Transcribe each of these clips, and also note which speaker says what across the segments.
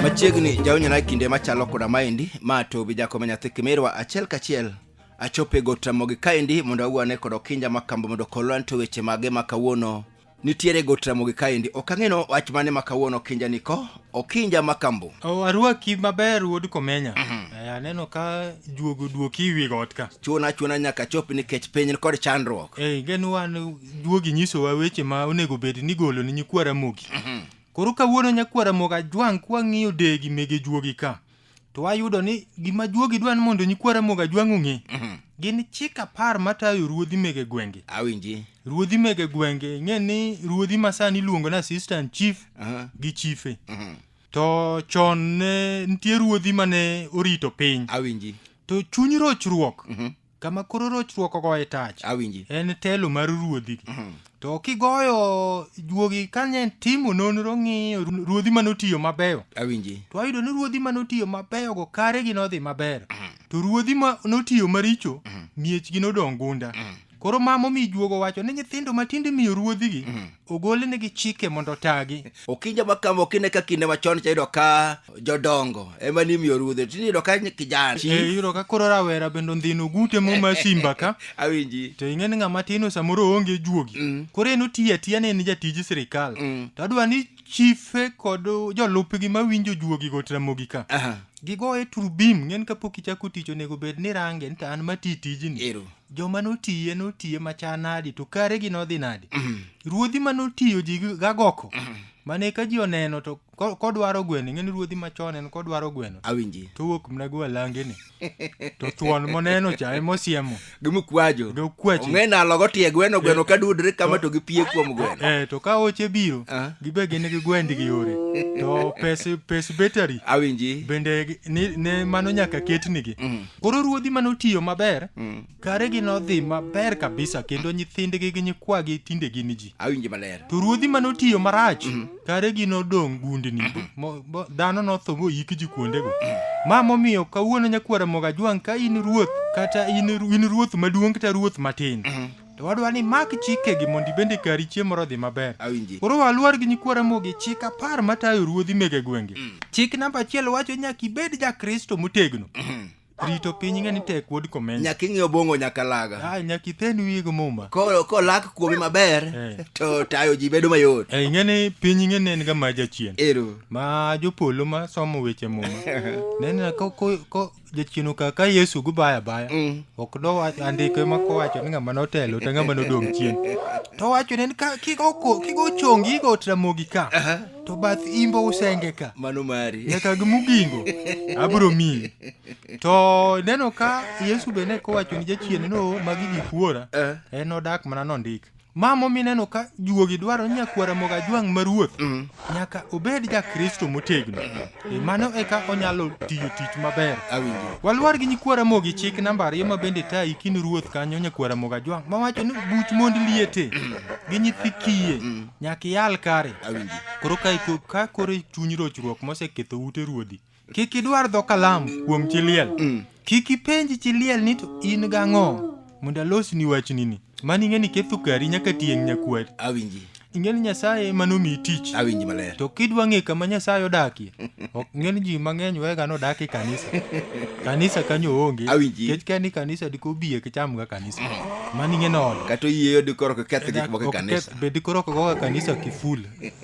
Speaker 1: machiegni jaonyona kinde machalo koda maendi ma to bi jakome nyathi kimirwa achiel kachiel achope got ramogi kaendi mondo awuane kod okinja makamba mondo kolwan to weche mage ma kawuono nitiere got ramogi kaendi ok ang'eno wach mane ma kawuono okinja niko okinja makambo O, arwaki maber
Speaker 2: wuod komenya Eh, aneno ka juogo duoki wi got ka chuona chuona nyaka chop
Speaker 1: nikech piny kod chandruok Ei, geno wan
Speaker 2: juogi nyisowa weche ma onego bed ni golo ni nyikwara mogi koro kawuono nyakwara moga jwang' kwang'iyo degi mege juogi ka to wayudo ni gima juogi dwa ni mondo nyikwa Ramogi Ajwang' ong'e Mhm. gin chik apar matayo ruodhi mege gwenge awinji ruodhi
Speaker 1: mege
Speaker 2: gwenge ing'e ni ruodhi masani iluongo ni assistant chief Aha. gi chife Mhm. to chon ne nitie ruodhi mane orito piny awinji to
Speaker 1: chuny
Speaker 2: rochruok Mhm. kama koro rochruok ogoye tach awinji en telo
Speaker 1: mar
Speaker 2: ruodhi to kigoyo juogi kane timo nonro ng'iyo ru- ruodhi manotiyo mabeyo awinji to ayudo ni
Speaker 1: ruodhi
Speaker 2: manotiyo mabeyo go kare gi nodhi maber to ruodhi ma notiyo maricho miechgi nodong gunda koro ma momi juogo wacho ni nyithindo matinde imiyo ruodhigi ogolnegi chike mondo otagi okinja ma kama
Speaker 1: okine ka kinde machon cha yudo ka jodongo ema ni imiyo rudhe tini yudo ka kijana e yudo ka koro
Speaker 2: rawera bende ondhino gute moma simba ka awinji to ing'e
Speaker 1: ni ng'ama tino
Speaker 2: samoro oonge juogi Mm. koro en otiyo atiya ni en jatij sirikal Mm. to adwa ni chife kod jolupgi mawinjo juogi go tramogi ka Aha. gigoye turbim ng'en kapok ichako tich onego bed ni range ni to an mati tijni Ero. joma notiye notiye macha nadi to karegi nodhi nadi ruodhi ma notiyo ji gi- gagoko mane ka ji oneno to ko- kodwaro gweno ing'eni ruodhi machon en kodwaro gweno awinji to wuok mna
Speaker 1: go alangeni
Speaker 2: to thuon moneno cha emosiemo gimukwajo
Speaker 1: Gokwacho. ong'e nalo
Speaker 2: gotie
Speaker 1: gweno gweno ka dudre kama to gipie kuom gweno eh to ka oche biro
Speaker 2: Ah. gibe gin gi gwendi gi yore to pes pes betari awinji bende
Speaker 1: gi- ni,
Speaker 2: ne mano nyaka ketnigi Koro ruodhi mane otiyo maber, Mm. karegi nodhi maber kabisa kendo nyithindgi gi nyikwagi tinde gin ji. Awinje maler. To ruodhi
Speaker 1: mane otiyo
Speaker 2: marach, karegi nodong' gundni. Mo- bo- Dhano notho moyik ji kuondego. Ma momiyo kawuono nyakwara Mogajwang' ka in ruoth kata in ru- in ruoth maduong' kata ruoth matin. To wadwa ni mak chikegi mondo ibende kari chiemo moro odhi maber. Awinji. Koro waluor
Speaker 1: gi nyikwa
Speaker 2: Ramogi chik apar matayo ruodhi mege gwenge. Chik namba achiel wacho nyaka ibed ja Kristo motegno. Rito piny ng'e ni tek wuod komenya. Nyaka ing'e obongo nyaka
Speaker 1: laga. Ah, nyaka ithen wiye gi
Speaker 2: muma. Koro kolak kuomi
Speaker 1: maber Eh. to tayo ji bedo mayot. Eh, ing'e ni piny ing'e
Speaker 2: ni en ga ma jachien. Ero. Ma
Speaker 1: jopolo ma
Speaker 2: somo weche muma. Nena ko ko ko jachino kaka yesu gubaya baya Mm. ok dowacho andike ma kowacho ni ng'ama notelo to ng'ama nodong' chien to wacho ni ka- kigo ko- kigo chongi igo tramogi ka to bath imbo usenge ka mano mari nyaka
Speaker 1: gi mugingo
Speaker 2: abiro miyi to neno ka yesu bende kowacho ni jachien no magi gikuora Eh. en odak mana nondik ma momineno ka juogi dwaro nyakwara mogajwang' ma ruoth mm. nyaka obed jakristo motegno mm. e mano eka onyalo tiyo tich maber walwar
Speaker 1: gi nyikwara
Speaker 2: mogi chik namba ariyo ma bende tayi kin ruoth kanyo nyakwara mogajwang' mawacho ni buch mond liete mm. gi nyithi kiye nyaka iyal kare koro
Speaker 1: ka
Speaker 2: koro chuny rochruok moseketho ute ruodhi Kik idwar dho kalamu kuom chi liel. Mm. Kik ipenj chi liel ni to in gang'o mondo alosni wachni ni. Mani ing'e ni ketho kari nyaka tieng' nyakwari. Awinji. Ing'e
Speaker 1: ni Nyasaye
Speaker 2: ema nomiyi tich. Awinji maler. To kidwa
Speaker 1: ng'e kama
Speaker 2: Nyasaye odakie, ok ing'e ni ji mang'eny wega ni odak e kanisa. Kanisa kanyo onge. Awinji. Nikech ka ni kanisa
Speaker 1: diko
Speaker 2: biye kichamga kanisa. Mani ing'e ni ode. Kata oyieyo dikoro
Speaker 1: kiketh gik moko e Ok kanisa. keth- Be dikoro ok goga
Speaker 2: kanisa kiful.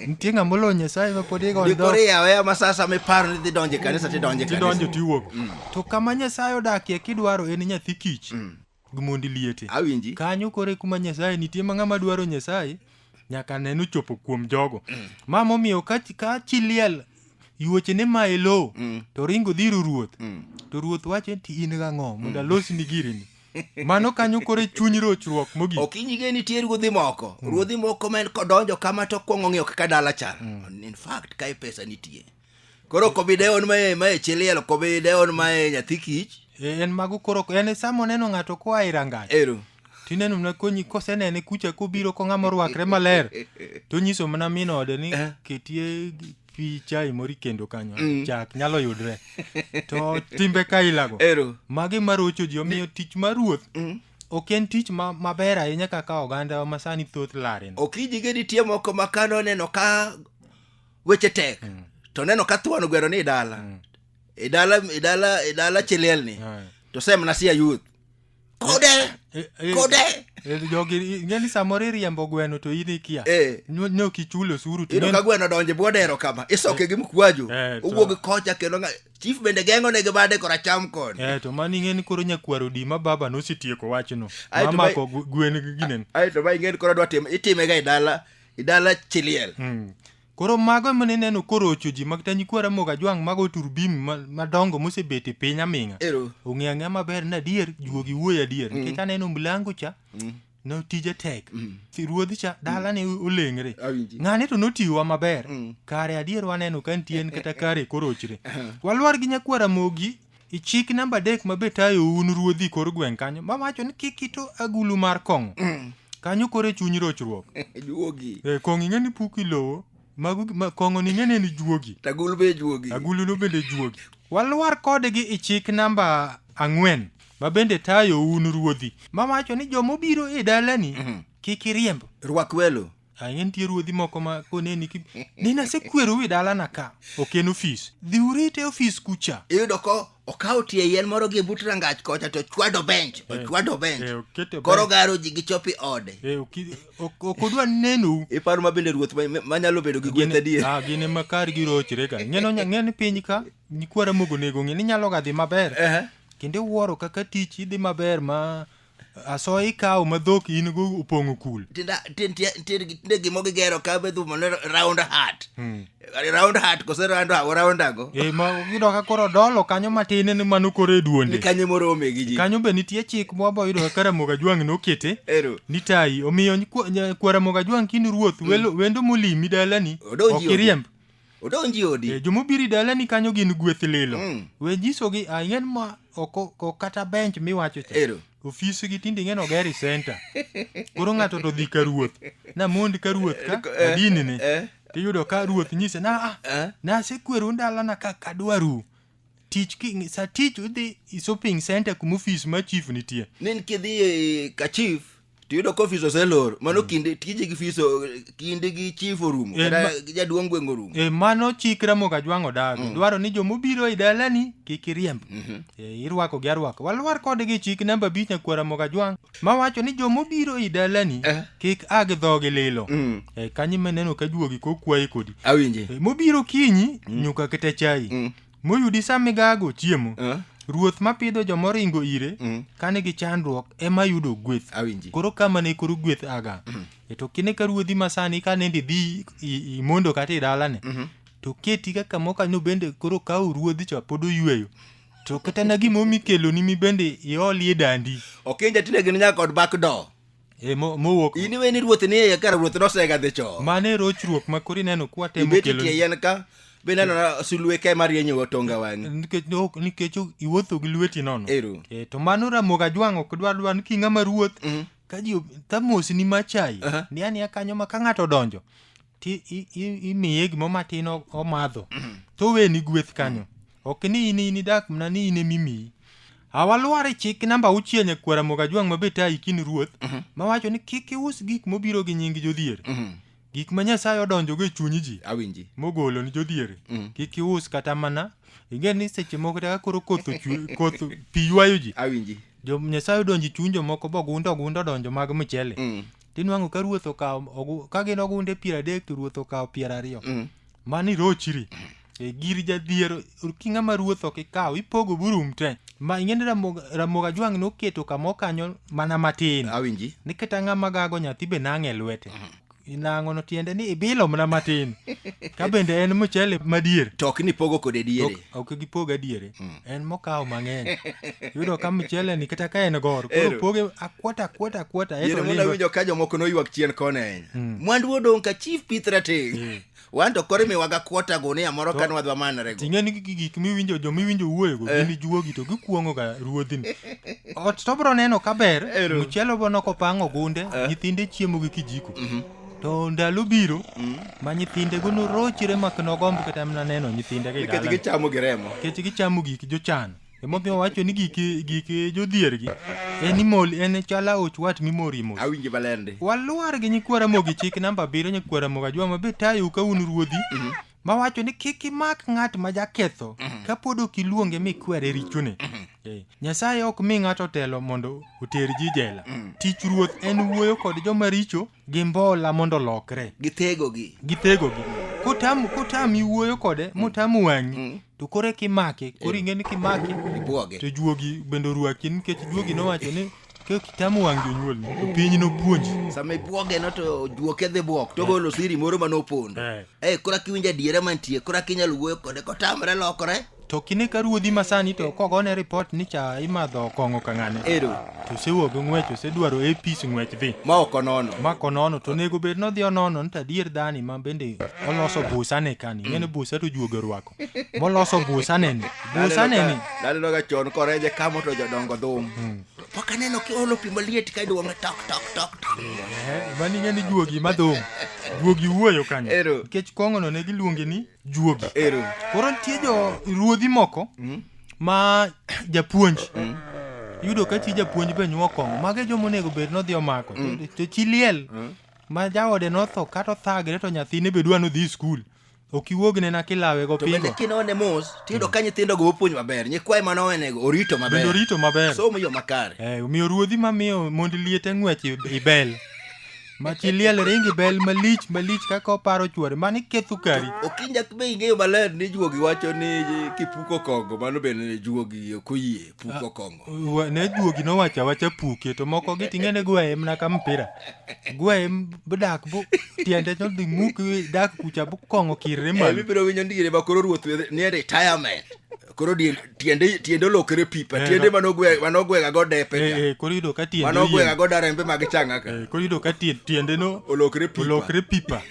Speaker 2: Nitie ng'ama olo Nyasaye ma pod igo Ndikore dho. yawe ama sasa
Speaker 1: miparo ni dhi donjo e kanisa tidonjo e kanisa. Tidonjo tiwuok.
Speaker 2: To kama Nyasaye odakie kidwaro en nyathi kich. Gi mondi liete. Awinji. Kanyo kore
Speaker 1: kuma
Speaker 2: Nyasaye nitie ma ng'ama dwaro Nyasaye nyaka neno chopo kuom jogo. Ma momiyo ka ka chi liel yuoche ne ma elo to ringo dhiro ruoth. To ruoth wacho ni in gang'o mondo alosni girini. mano kanyo koro e chuny rochruok mogik okinyi ge nitie ruodhi
Speaker 1: moko mm. ruodhi moko ma kodonjo kama to kwongo ng'iyo kaka dala chal mm. in fact kae pesa nitie koro kobi deon mae mae chiliel kobi deon mae nyathi kich e, en mago koro
Speaker 2: en e sama oneno ng'ato koa e rangach ero tineno mana konyi kosenene kucha kobiro ko ng'ama orwakre maler to nyiso mana min ode ni eh. ketie pi chai moro ikendo kanyo mm. chak nyalo yudre to timbe kailago Ero. magi marocho ji omiyo tich mar ruoth mm. ok en tich ma, maber ahinya kaka oganda ma sani thoth laren ok
Speaker 1: ijige
Speaker 2: nitie
Speaker 1: moko ma ka noneno ka weche
Speaker 2: tek mm.
Speaker 1: to neno ka thuon gwero ni idala mm. idala idala idala chilielni mm. to semna sia yuth kode Eh, eh, kode eh, jogi ing'e
Speaker 2: ni samoro iriembo gweno to in ikia Eh. Nyo- ne ok ichulo osuru to ino ne- ka gweno donje
Speaker 1: bwodero kama isoke gi mkwaju Eh, to- owuog kocha kendo nga- chief bende geng'o ne gi bade koracham koni Eh, to mano ing'e ni koro
Speaker 2: nyakwar odima baba nosetieko wachno Ae, to mamako gu- gwen gi ginen aeto ma ing'eni koro dwa
Speaker 1: time itimega e dala e dala chiliel Mm. Koro
Speaker 2: mago ema nineno korocho ji mag Tanyikwa Ramogi Ajwang' mago turbim ma- madongo mosebet e piny aming'a. Ero. Ong'e ang'e maber ni adier juogi wuoyo adier nikech aneno mlango cha no tije tek. Si Ruodhi cha dala ne olengre. Awinji. Ng'ane to notiwa maber. Kare adier waneno ka nitie en kata kare korochre. Walwar gi Nyakwa Ramogi E chik namba adek ma be tayou un ruodhi kor gweng' kanyo ma wacho ni kik ito agulu mar kong'o kanyo koro e chuny rochruok juogi e,
Speaker 1: kong'o ing'e ni puk
Speaker 2: ilowo mago gi- ma- kong'o ni ing'e ni en juogi tagul be juogi
Speaker 1: aguluno bende juogi
Speaker 2: walwar kodgi i chik namba ang'wen ma bende tayo un ruodhi ma wacho ni joma obiro e dalani kik iriemb rwak welo
Speaker 1: Ang'e nitie ruodhi
Speaker 2: moko ma koneni ki ni nasekweru wi dalana ka ok en ofis. Dhi urite ofis kucha. Iyudo ko
Speaker 1: okawo tie yien moro gi but rangach kocha to chwado bench, ochwado eh, bench. Eh, okete Koro bench. garo ji gichopi ode. Eh, oki- ok ok
Speaker 2: odwa nenou. Iparo ma bende ruoth
Speaker 1: ma- manyalo bedo gi gweth adier. Ah, gin ema kar girochre
Speaker 2: ka. Ng'eno nya- ng'e ni piny ka nyikwara mogo nego ng'e ni nyalo ga dhi maber. Ehe. Kendo iwuoro kaka tich idhi maber ma asoya ikawo ma dhok in go opong'o kul tinda tin tie tin
Speaker 1: tinde gimo gigero ka be dhumo ne round hat Hmm. round hat kose round hawo round ago e ma yudo ka koro
Speaker 2: dolo kanyo matin ni mano koro e ni duonde kanye morome
Speaker 1: gi
Speaker 2: ji
Speaker 1: kanyo be nitie chik mwabo
Speaker 2: yudo ka Ramogi Ajwang' nokete ero ni tayi omiyo nyi- kwa- nya- kwa Ramogi Ajwang' kin ruoth welo- wendo molimi dalani Odonji ok iriemb odonji
Speaker 1: odi e, jomobiri dalani kanyo
Speaker 2: gin gweth lilo mm. we nyisogi ah, ing'en ma oko kata bench miwacho cha ero ofis gi tinde ing'en ogeri center koro ng'ato to dhi ka ruoth na mond ka ruoth ka eh, adini ni eh. tiyudo ka ruoth nyise na ah, eh. na sekweru ndalana ka kadwaru tich ki sa tich udhi shopping center kuma ofis ma chief nitie nen kidhi
Speaker 1: ka chief to yudo ka ofis oselor mano mm. kinde tije gi fis kinde gi chief orumo eh, kata jaduong' gweng' orumo e mano chik ramoga
Speaker 2: jwang' odago mm. dwaro ni jomobiro e dalani kik iriemb mm-hmm. e eh, irwako gi arwako walwar kodgi chik namba abich nyakwar ramoga jwang' mawacho ni jomobiro e dalani eh. kik a gi dhogi lilo mm. e kanyi meneno ka juogi kokwayi kodi awinje e, mobiro
Speaker 1: kinyi
Speaker 2: mm. nyuka kete chai mm. Moyudi sa migago chiemo, Eh? ruoth ma pidho joma oringo ire Mm. ka nigi chandruok ema yudo gweth. Awinji. Koro kama ne koro gweth aga. E to kine ka ruodhi ma sani ka nende idhi i- imondo kata i dalane, to keti ka kamo kanyo bende koro kawo ruodhi cha pod oyweyo. To kata na gimomi keloni mi bende iolie dandi. Ok inja tine gin nyaka
Speaker 1: kod back door. e mo- mowuok
Speaker 2: in iwe ni ruoth ni
Speaker 1: iye kar ruoth nosega dhi cho mano e rochruok ma
Speaker 2: koro ineno kwatemo ibet kelo tie yien ka
Speaker 1: be neno na sulwe ka ema rienyo watonga wang'i nikech ok- nikech ok-
Speaker 2: iwuotho gi lweti nono Ero. Eh, to mano ramoga jwang' ok dwar dwar ni king'ama ruoth ka ji ob- ka mosni machayi Aha. ni aniya kanyo ma ka ng'ato odonjo ti i- i- imiye gimoro matin o- omadho to oweni gweth kanyo ok ni in in idak mana ni in emimiyi awalwar e chik namba auchiel nyakwara moga jwang' ma beta ikin ruoth mawacho ni kik ius gik mobiro gi nying jodhier gik ma nyasaye odonjogo e chuny ji awinji mogolo ni
Speaker 1: jodhier
Speaker 2: Mm. kik ius kata mana ing'e ni seche moko kata ka koro koth ochwe- koth pi ywayo ji awinji jo nyasaye
Speaker 1: odonjo e
Speaker 2: chuny jomoko bogundo gundo donjo mag mchele Mm. tinwang'o ka ruoth okawo ogu- ka gin ogunde piero adek to ruoth okawo piero ariyo Mm. mano irochiri e gir jadhiero ki ng'ama ruoth ok ikaw ipogo burum te ma ing'eni Ramogi- ramogi ajwang' noketo kama okanyo mana matin awinji niketa ng'ama
Speaker 1: gago
Speaker 2: nyathi be nang'e lwete inang'o no tiende ni ibilo mana matin ka bende en mchele madier to ok ni pogo kode
Speaker 1: diere ok ok gipoga diere
Speaker 2: en mokawo mang'eny yudo ka mchele ni kata ka en gor koro Ero. poge akwota akwota akwota Yere eto muna lindo winjo
Speaker 1: ka jomoko noywak chien koni ahinya. Mwandu odong' ka chief pith rateng'. Wan to koro imiwaga kwota gunia moro ka nwadhi wamanrego. ting'e ni gi- gik miwinjo
Speaker 2: jo miwinjo wuoyego gin juogi to gikuong'o ga ruodhini ot to bro neno kaber Ero. mchele bono kopang' ogunde nyithinde chiemo gi kijiko to ndalo biro mm. ma nyithindego norochre mak nogomb kata mana neno nyithindego nikech gichamo gi remo nikech
Speaker 1: gichamo gik
Speaker 2: jochan emomiyo owacho ni gik gik jodhiergi en imol en chala och wat mimor imol awinje balende
Speaker 1: waluar
Speaker 2: gi nyikwara mogi chik namba abiriyo nyikwara
Speaker 1: moga
Speaker 2: jwa mabe tayo ka un ruodhi mm-hmm. mawacho ni kik imak ng'at ma jaketho mhm. kapod ok iluonge mikwere richone mhm. eh, nyasaye ok mi ng'ato telo mondo oter ji jela mhm. tich ruoth en wuoyo kod joma richo gi mbola mondo olokre githegogi
Speaker 1: githegogi kotam
Speaker 2: kotam iwuoyo kode motam wang'i to koro kimake koro ing'e ni kimake to juogi bende orwaki nikech juogi nowacho ni Kik itam wang' jonyuolni, to piny nopuonji. Sama ibwoge no to
Speaker 1: juoke dhi bwok to golo siri moro ma nopondo. Eh. Eh, kora kiwinjo adiera mantie, kora kinyal wuoyo kode kotamre lokore. To kine ka ruodhi
Speaker 2: masani to kogone ripot ni cha imadho kong'o ka ng'ane. Ero, To osewuok gi ng'wech, osedwaro apis ng'wech dhi. ma ok onono. Ma
Speaker 1: konono to onego
Speaker 2: bed nodhi onono ni to adier dhani ma bende oloso busa ne kani. Ng'ene busa to juoge orwako. moloso busaneni busaneni lalelo
Speaker 1: ka chon koreje kamo to jodongo dhum hmm. pok aneno kiolo pi maliet ka iduonge tok tok tok tok eh, mani
Speaker 2: ng'e ni juogi ma dhum juogi wuoyo kanyo nikech kong'ono ne giluonge ni juogi koro nitie jo ruodhi moko hmm? ma japuonj hmm? yudo ka chi japuonj be nyuo kong'o mage joma onego bed nodhi omako to chi liel ma jaode notho kata othagre to nyathine be dwa nodhi skul ok iwuognena kilawego to bende pingo kinone mos
Speaker 1: tiyudo ka nyithindogo opuonj maber nyikwaye mane owenego orito bende maber orito maber somo
Speaker 2: yo makare Eh,
Speaker 1: omiyo ruodhi mamiyo
Speaker 2: mond liete ng'wech i- i bel ma chi liel ring i bel malich malich kaka oparo chwore mano iketho kari okinja be ing'eyo
Speaker 1: maler ni juogi wacho ni kipuko kogo mano bende juogi ok oyie puko kong'o Wa- ne juogi nowacho
Speaker 2: awacha puke to moko gi ting'e ne gwaye mana ka mpira gwaye m- dak bu tiende to dhi muk dak kucha bu kong'o kirre Eh, malo mibiro winjo ndire ma koro
Speaker 1: ruoth wethe- nie retirement koro die- tiende tiende olokre pipa Eh, tiende no. manogwe- manogwega go depe Eh, eh, koro yudo ka tiende manogwega
Speaker 2: oyiem. go darembe mag
Speaker 1: changaka Eh, koro yudo ka tie- tiende
Speaker 2: no olokre pipa olokre
Speaker 1: pipa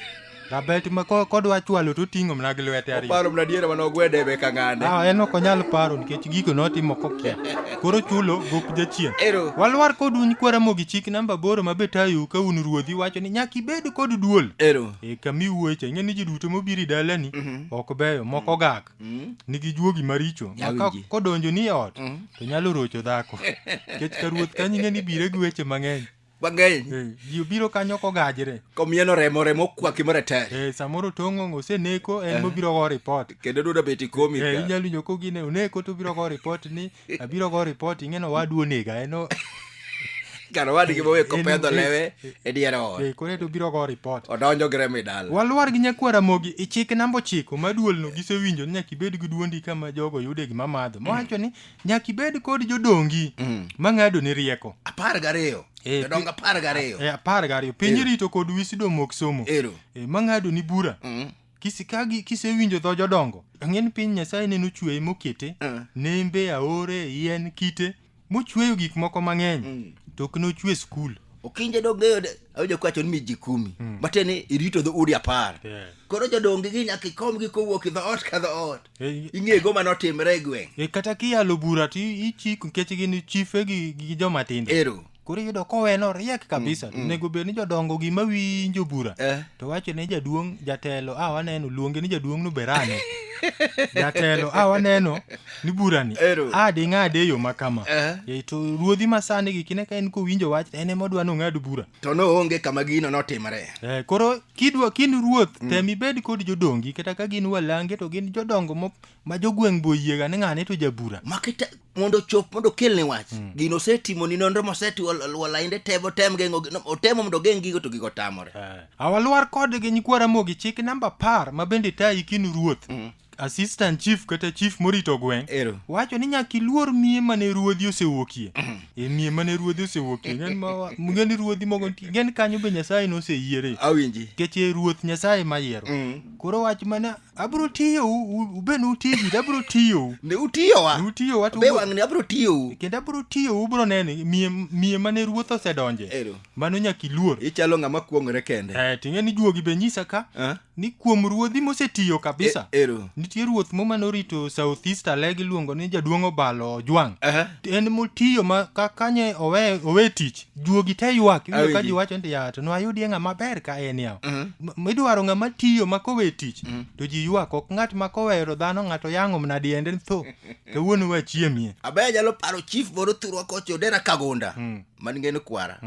Speaker 2: Rabet ma ko- kodwa chwalo to oting'o mana gi lwete ariyo. Paro mna diere mane ogwede
Speaker 1: e beka ng'ane. Ah, en ok onyal paro
Speaker 2: nikech gigo notimo kokia. Koro chulo gop jachien. Ero. Walwar kod un kwaramogi chik namba boro ma betayu ka un ruodhi wacho ni nyaka ibed kod duol. Ero. E kami wuoche, ing'e ni ji duto mobiro e dalani ok beyo, moko gak. Nigi juogi maricho. Ma ka Awinji. kodonjo ni e ot, to nyalo rocho dhako. Nikech ka ruoth kanyo ing'e ni bire gi weche mang'eny. mang'eny Eh, ji obiro kanyo kogajre komieno remo remo
Speaker 1: okwaki maratari Eh, samoro tong'ong
Speaker 2: oseneko en mobiro go ripot kendo duda bet ikomi
Speaker 1: Eh, ka. inyalo winjo kogine oneko
Speaker 2: to obiro go ripot ni abiro go ripot ing'eno wadu onega eno kar
Speaker 1: wadgi mowe kopedho lewe e dier ot eh, koro to obiro go ripot
Speaker 2: odonjo gi remo e dala
Speaker 1: walwar gi nyakwar ramogi
Speaker 2: ichik namba ochiko ma duolno gisewinjo ni nyaka ibed gi duondi kama jogo yude gima madho mawacho ni nyaka ibed kod jodongi mm. mang'ado ni rieko apar gariyo eh,
Speaker 1: jodongo apar gariyo eh, apar gariyo piny
Speaker 2: rito kod wisido mok somo eh, mang'ado ni bura mm. kisikagi kisewinjo dho jodongo ang'eni piny nyasaye neno chweye mokete uh. nembe aore yien kite mochweyo gik moko mang'eny mm. to ok nochwe skul okinje dong'eyo
Speaker 1: awinjo kwacho ni miji kumi mm. matiende irito dho udi apar yeah. koro jodongi gi nyaka ikomgi kowuok i dhoot ka dhoot Eh, ing'e go mane otimre e gweng' eh, kata kiyalo bura
Speaker 2: to i- ichik nikech gin chife gi, gi joma tindo ero koro iyudo koweno riek kabisa mm, mm. nego bed ni jodongo gima winjo bura Eh. to wacho ne jaduong' jatelo a waneno luonge ni jaduong' nuberano jatelo a waneno ni burani Ero. a ding'ade e yo makama Eh. Eh, to ruodhi masani gi kine ka en kowinjo wach to en ema odwa nong'ad bura to noonge kama
Speaker 1: gino notimre Eh, koro kidwa
Speaker 2: kind ruoth mm. tem ibed kod jodongi kata ka gin walange to gin jodongo mo ma jogweng' boyiega ni ng'ane to jabura makita mondo
Speaker 1: chop mondo kelne wach mm. gino osetimo ni nonro mosetiwo walainde tebo tem geng'o otemo mondo geng' gigo to gigo tamore eh. awalwar
Speaker 2: kodgi nyikwara mogi chik namba par ma bende tayi kinu ruoth mm. assistant chief kata chief morito gweng' Ero. wacho ni nyaka iluor miye mane ruodhi osewuokie e miye mane ruodhi osewuokie ng'en ma wa- ng'en ruodhi mogo nitie ng'en kanyo be nyasaye noseyiere Awinji. nikech e
Speaker 1: ruoth nyasaye
Speaker 2: mayiero Mm. koro wach mana abiro tiyo u- u- ube ne utiji to abiro tiyo u. Ne utiyowa. Ne
Speaker 1: utiyowa to Be ubiro- wang'ni abiro tiyou. kendo abiro tiyo u, ubiro
Speaker 2: neno miye miye mane ruoth osedonje Ero. mano nyaka iluor Ichalo ng'ama kuong'ore
Speaker 1: kende. eh ting'e ni juogi be nyisa
Speaker 2: ka Ah. ni kuom ruodhi mosetiyo kabisa E- ero. nitie ruoth mo mane orito south east alege iluongo ni jaduong' obalo ojwang' Aha. en motiyo ma ka kanye owe, owe tich juogi te ywak iwinjo ka Awinji. ji wacho ni yato no ayudie ng'ama ber ka en yaw M- midwaro ng'ama tiyo ma kowe tich to ji ywak ok ng'at ma kowero dhano ng'ato yang'o mna diende ni tho kawuono wachiemie abe
Speaker 1: anyalo paro chief moro thurwa kocha odera
Speaker 2: kagunda
Speaker 1: man ngeno kwara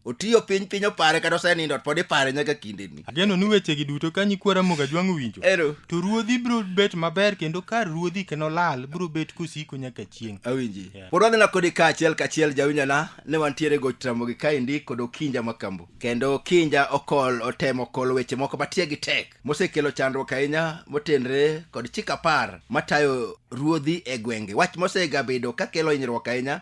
Speaker 1: otiyo piny piny opare kata osenindo pod ipare nyaka kindeni ageno ni wechegi duto
Speaker 2: ka nyikwa ramogi ajwang' owinjo Ero. to ruodhi biro bet maber kendo kar ruodhi kendo lal biro bet kosiko nyaka chieng' awinji Yeah. pod wadhina
Speaker 1: kodi ka achiel ka achiel jawinjana ne wantiere goch ramogi kaendi kod okinja makambo kendo okinja okol otemo okol weche moko matie gi tek mosekelo chandruok ahinya motenre kod chik apar matayo ruodhi e gwenge wach mosegabedo kakelo hinyruok ahinya